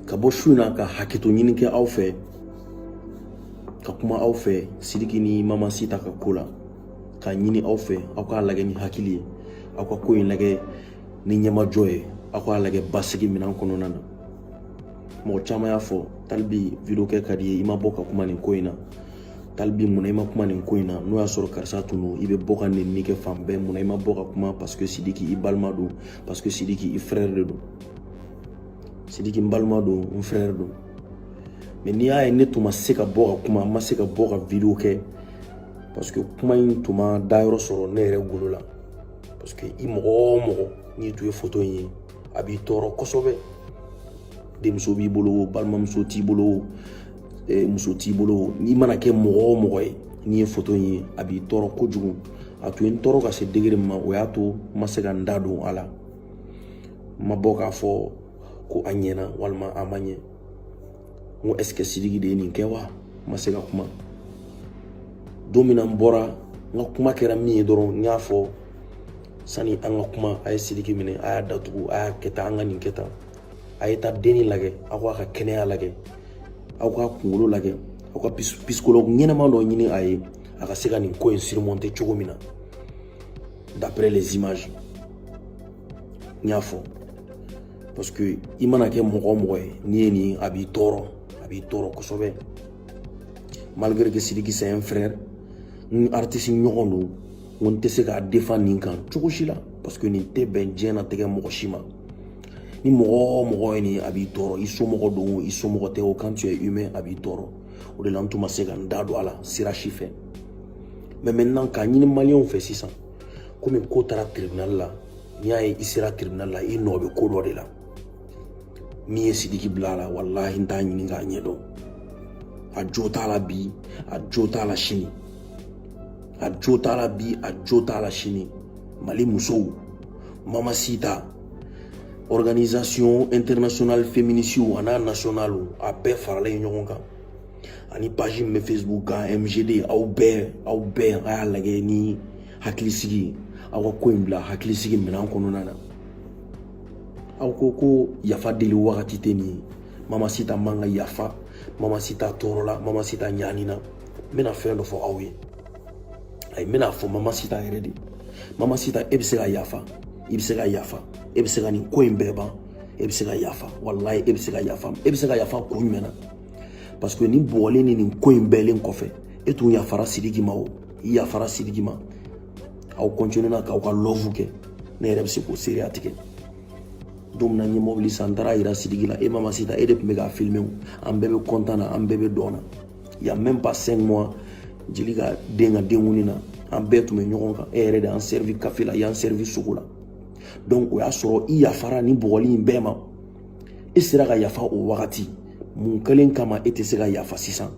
ka bɔ su in na ka hakɛto ɲini kɛ aw fɛ ka kuma aw fɛ sidiki ni mamasi ta ka ko la ka ɲini aw fɛ aw k'a lagɛ ni hakili ye aw ka ko in lagɛ ni ɲɛmajɔ ye aw k'a lagɛ basigi minan kɔnɔna na mɔgɔ caman y'a fɔ talibi video kɛ ka di ye i ma bɔ ka kuma nin ko in na talibi munna i ma kuma nin ko in na n'o y'a sɔrɔ karisa tun don i bɛ bɔ ka nenni kɛ fan bɛɛ munna i ma bɔ ka kuma parce que sidiki i balima don parce que sidiki i frère de don sidiki n balima don n frère don mais n'i y'a ye ne tun ma se ka bɔ ka kuma n ma se ka bɔ ka video kɛ parce que kuma in tun ma dayɔrɔ sɔrɔ ne yɛrɛ golo la parce que i mɔgɔ o mɔgɔ n'i tun ye foto in ye a b'i tɔɔrɔ kosɛbɛ denmuso b'i bolo o balimamuso t'i bolo o e, muso t'i bolo n'i mana kɛ mɔgɔ o mɔgɔ ye n'i ye foto in ye a b'i tɔɔrɔ kojugu a tun ye n tɔɔrɔ ka se degré min ma o y'a to n ma se ka n da don a la n ma bɔ k'a fɔ ko a ɲɛna walima a ma ɲɛ n ko est-ce que sidiki de ye nin kɛ wa n ma se ka kuma don min na n bɔra n ka kuma kɛra min ye dɔrɔn n y'a fɔ sani an ka kuma a ye sidiki minɛ a y'a datugu a y'a kɛ tan an ka nin kɛ tan a ye taa denni lagɛ aw k'a ka kɛnɛya lagɛ aw k'a kunkolo lagɛ aw ka psychologue ɲɛnama dɔ ɲini a ye a ka se ka nin ko in surmonter cogo min na d'après les images n y'a fɔ parce que i mana kɛ mɔgɔ o mɔgɔ ye n'i ye nin a b'i tɔɔrɔ a b'i tɔɔrɔ kosɛbɛ malgré que sidiki c'est un frère n artiste ɲɔgɔn don n ko n tɛ se k'a défend nin kan cogo si la parce que nin tɛ bɛn diɲɛnatigɛ mɔgɔ si ma ni mɔgɔ o mɔgɔ ye nin a b'i tɔɔrɔ i somɔgɔ don o i somɔgɔ tɛ o quand tu es humain a b'i tɔɔrɔ o de la n tun ma se ka n da don a la sira si fɛ mais maintenant k'a ɲini maliyɛnw fɛ sisan komi ko taara tribunal la n'i y'a ye i sera tribunal la i nɔ bɛ ko dɔ de la min ye sidiki bila a la walahi n t'a ɲini k'a ɲɛdɔn a jo t'a la bi a jo t'a la sini a jo t'a la bi a jo t'a la sini mali musow mamasita organisation internationale féministew an'a nationale a bɛɛ faralen ɲɔgɔn kan ani page min bɛ facebook kan mgd aw bɛɛ aw bɛɛ a y'a lagɛ ni hakilisigi aw ka ko in bila hakilisigi minɛn kɔnɔna na aw ko ko yafa deli wagati tɛ nin mamasita man ka yafa mamasita tɔɔrɔla mamasita ɲanina n bɛna fɛn dɔ fɔ aw ye ayi n bɛna fɔ mama sita yɛrɛ de mama sita e bɛ se ka yafa i bɛ se ka yafa e bɛ se ka nin ko in bɛɛ ban e bɛ se ka yafa walayi e bɛ se ka yafa e bɛ se ka yafa kun jumɛn na parce que nin bɔgɔli in ni nin ko in bɛɛ kɛlen kɔfɛ e tun yafara sidiki ma o i yafara sidiki ma aw continuer na k'aw ka love kɛ ne yɛrɛ bɛ se k'o seereya tigɛ don min na n ye mɔbili san n taara yira sidiki la e mama sita e de tun bɛ k'a filime o an bɛɛ bɛ kɔntan na an bɛɛ bɛ dɔn na y a même pas 5 mois jeli ka den ka denkundi na an bɛɛ tun bɛ ɲɔgɔn kan e yɛrɛ de y'an servi café la y'an servi sogo la donc o y'a sɔrɔ i yafara nin bɔgɔli in bɛɛ ma e sera ka yafa o wagati mun kɛlen kama e tɛ se ka yafa sisan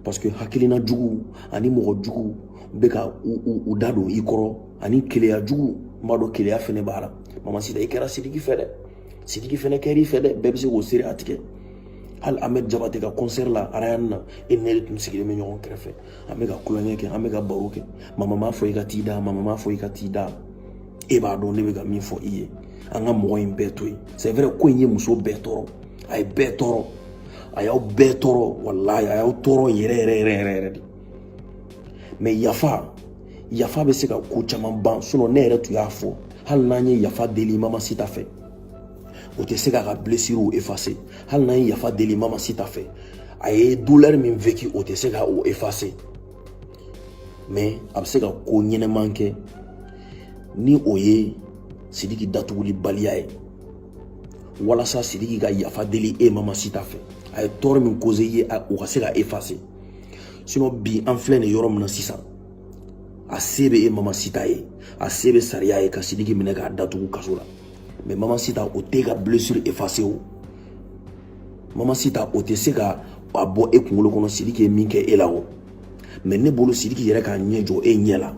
parce que hakilina jugu ani mɔgɔ jugu bɛ ka u da don i kɔrɔ ani keleya jugu n b'a dɔn keleya fɛnɛ b'a la mama sita i kɛra sidiki fɛ dɛ sidiki fɛnɛ kɛr'i fɛ dɛ bɛɛ bɛ se k'o seereya tigɛ hali ahmed jabate ka concert la arayani na e ni ne de tun sigilen bɛ ɲɔgɔn kɛrɛfɛ an bɛ ka tulonkɛ kɛ an bɛ ka baro kɛ mama m'a fɔ i ka t'i da mama m'a fɔ i ka t'i da e b'a dɔn ne bɛ ka min fɔ i ye an ka mɔgɔ in bɛɛ to yen c'est vrai ko in ye muso bɛɛ tɔɔrɔ a ye bɛɛ tɔɔrɔ a y'aw bɛɛ tɔɔrɔ walayi a y'aw tɔɔrɔ yɛrɛ yɛrɛ yɛrɛ yɛrɛ yɛrɛ de mais yafa yafa bɛ se ka ko caman ban sinon ne yɛrɛ tun y'a fɔ hali n'an ye yafa deli mama sita fɛ o tɛ se k'a ka blessure effacer hali n'an ye yafa deli mama sita fɛ a ye douleur min vécu o tɛ se ka o effacer mais a bɛ se ka ko ɲɛnɛman kɛ ni o ye sidiki datuguli baliya ye walasa sidiki ka yafa deli e mama sita fɛ a ye tɔɔrɔ min causer i ye o ka se ka effacer sinon bi an filɛ nin yɔrɔ min na sisan a se bɛ e mama sita ye a se bɛ sariya ye ka sidiki minɛ k'a datugu kaso la mais mama sita o t'e ka blessure effacer o mama sita o tɛ se ka a bɔ e kunkolo kɔnɔ sidiki ye min kɛ e la o mais ne bolo sidiki yɛrɛ k'a ɲɛ jɔ e ɲɛ la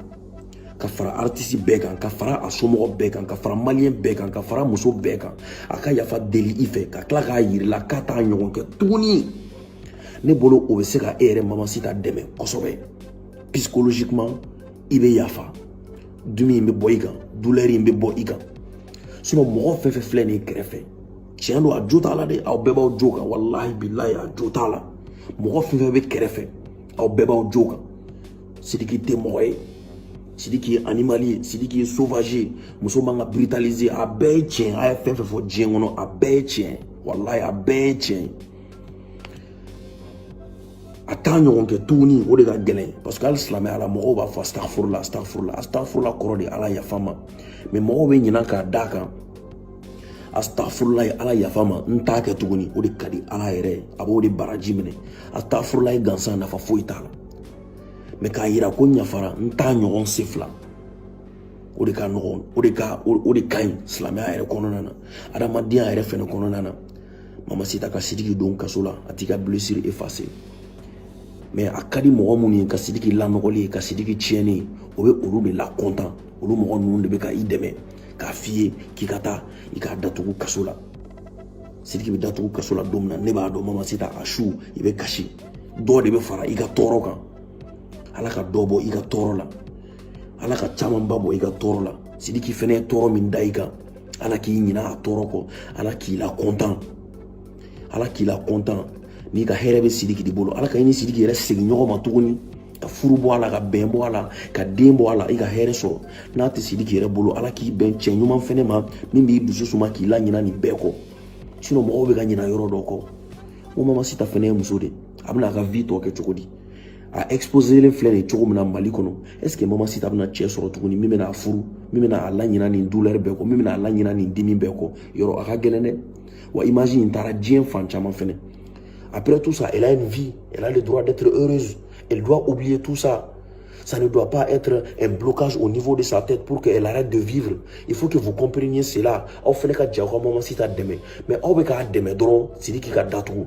ka fara artisi bɛɛ kan ka fara a somɔgɔ bɛɛ kan ka fara maliyɛn bɛɛ kan ka fara muso bɛɛ kan a ka yafa deli i fɛ ka tila k'a yir'i la k'a t'a ɲɔgɔn kɛ tuguni ne bolo o bɛ se ka e yɛrɛ mama sita dɛmɛ kosɛbɛ psychologiquement i bɛ yafa dimi in bɛ bɔ i kan douleur in bɛ bɔ i kan mɔgɔ fɛn fɛn filɛ nin kɛrɛfɛ tiɲɛ don a jo t'a la dɛ aw bɛɛ b'aw jo kan walahi bilahi a jo t'a la mɔgɔ fɛn fɛn bɛ kɛrɛfɛ aw bɛɛ b'aw jo kan sidiki tɛ mɔgɔ ye sidiki ye animal ye sidiki ye sauvage ye muso man ka brutaliser a bɛɛ ye tiɲɛ a ye fɛn fɛn fɔ diɲɛ kɔnɔ a bɛɛ ye tiɲɛ walahi a bɛɛ ye tiɲɛ ye a t'a ɲɔgɔn kɛ tuguni o de ka gɛlɛn parce que hali silamɛya la mɔgɔw b'a fɔ astafurula astafurula astafurula kɔrɔ de ala yafa n ma mais mɔgɔw bɛ ɲinan k'a d'a kan astafurula ye ala yafa n ma n t'a kɛ tuguni o de ka di ala yɛrɛ a b'o de baraji minɛ astafurulayi gansan nafa foyi t'a la mais k'a yira ko ɲafara n t'a ɲɔgɔn sen fila o de ka nɔgɔn o de ka o de ka ɲi silamɛya yɛrɛ kɔnɔna na adamadenya yɛrɛ fɛnɛ kɔnɔna na mama sita ka sidiki don kaso la a t'i ka blessure effacer mais a ka di mɔgɔ minnu ye ka sidiki lanɔgɔlen ye ka sidiki tiɲɛnen ye o bɛ olu de lakɔntan olu mɔgɔ ninnu de bɛ ka i dɛmɛ k'a f'i ye k'i ka taa i k'a datugu kaso la sidiki bɛ datugu kaso la don min na ne b'a dɔn mama sita a su i bɛ kasi dɔ de bɛ fara i ka tɔɔrɔ kan ala ka dɔ bɔ i ka tɔɔrɔ la ala ka camanba bɔ i ka tɔɔrɔ la sidiki fɛnɛ ye tɔɔrɔ min da i kan ala k'i ɲina a tɔɔrɔ kɔ ala k'i lakɔntan ala k'i lakɔntan n'i ka hɛrɛ bɛ sidiki de bolo ala ka i ni sidiki yɛrɛ segin ɲɔgɔn ma tuguni ka furu bɔ a la ka bɛn bɔ a la ka den bɔ a la i ka hɛrɛ sɔrɔ n'a tɛ sidiki yɛrɛ bolo ala k'i bɛn cɛ ɲuman fɛnɛ ma min b'i dusu suma k'i laɲina nin bɛɛ kɔ sinon mɔgɔw bɛ ka ɲina yɔrɔ dɔ kɔ o mama sita fɛnɛ ye muso de a bɛna a ka vie tɔ kɛ cogo di a exposelen filɛ nin cogo min na mali kɔnɔ est ce que mama sita bɛna cɛ sɔrɔ tuguni min bɛna a furu min bɛna a laɲina nin douleur bɛɛ kɔ min bɛna a laɲina nin dimi bɛɛ kɔ yɔrɔ a ka gɛlɛn dɛ wa image in taara diɲɛ fan caman fɛnɛ après tout ça elle a une vie elle a le droit d'être heureuse elle doit oublier tout ça ça ne doit pas être un blocage au niveau de sa tête pour qu'elle arrête de vivre. Il faut que vous compreniez cela. Aw fɛnɛ ka jɛ aw ka mama sita dɛmɛ mais aw bɛ k'a dɛmɛ dɔrɔn sidiki ka datugu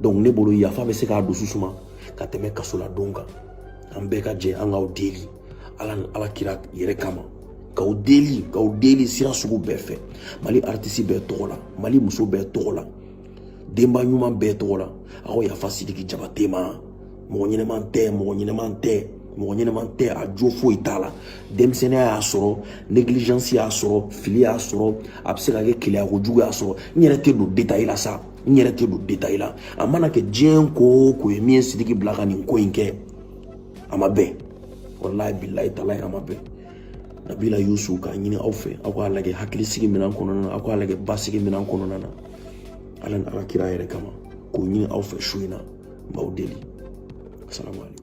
donc ne bolo yafa bɛ se k'a dusu suma ka tɛmɛ kaso la don kan an bɛɛ ka jɛ an k'aw deli ala ni a ka kira yɛrɛ kama k'aw deli k'aw deli sira sugu bɛɛ fɛ mali aritisi bɛɛ tɔgɔ la mali muso bɛɛ tɔgɔ la denba ɲuman bɛɛ tɔgɔ la aw ka yafa sidiki jabate ma mɔgɔ ɲɛnama tɛ mɔgɔ ɲɛnama tɛ mɔgɔ ɲɛnama tɛ a jo foyi t'a la denmisɛnninya y'a sɔrɔ négligence y'a sɔrɔ fili y'a sɔrɔ a bɛ se ka kɛ keleya kojugu y'a sɔrɔ n yɛrɛ tɛ don détail la sa n yɛrɛ tɛ don détail la a mana kɛ diɲɛ ko o ko ye min ye sidiki bila ka nin ko in kɛ a ma bɛn walayi bilayi talayi a ma bɛn nabila yusuf k'a ɲini aw fɛ aw k'a lajɛ hakilisigi minɛn kɔnɔna na aw k'a lajɛ basigi minɛn kɔnɔna na ala ni a ka kira yɛrɛ kama k'o ɲini aw fɛ su in na n b'aw deli asalamualeykum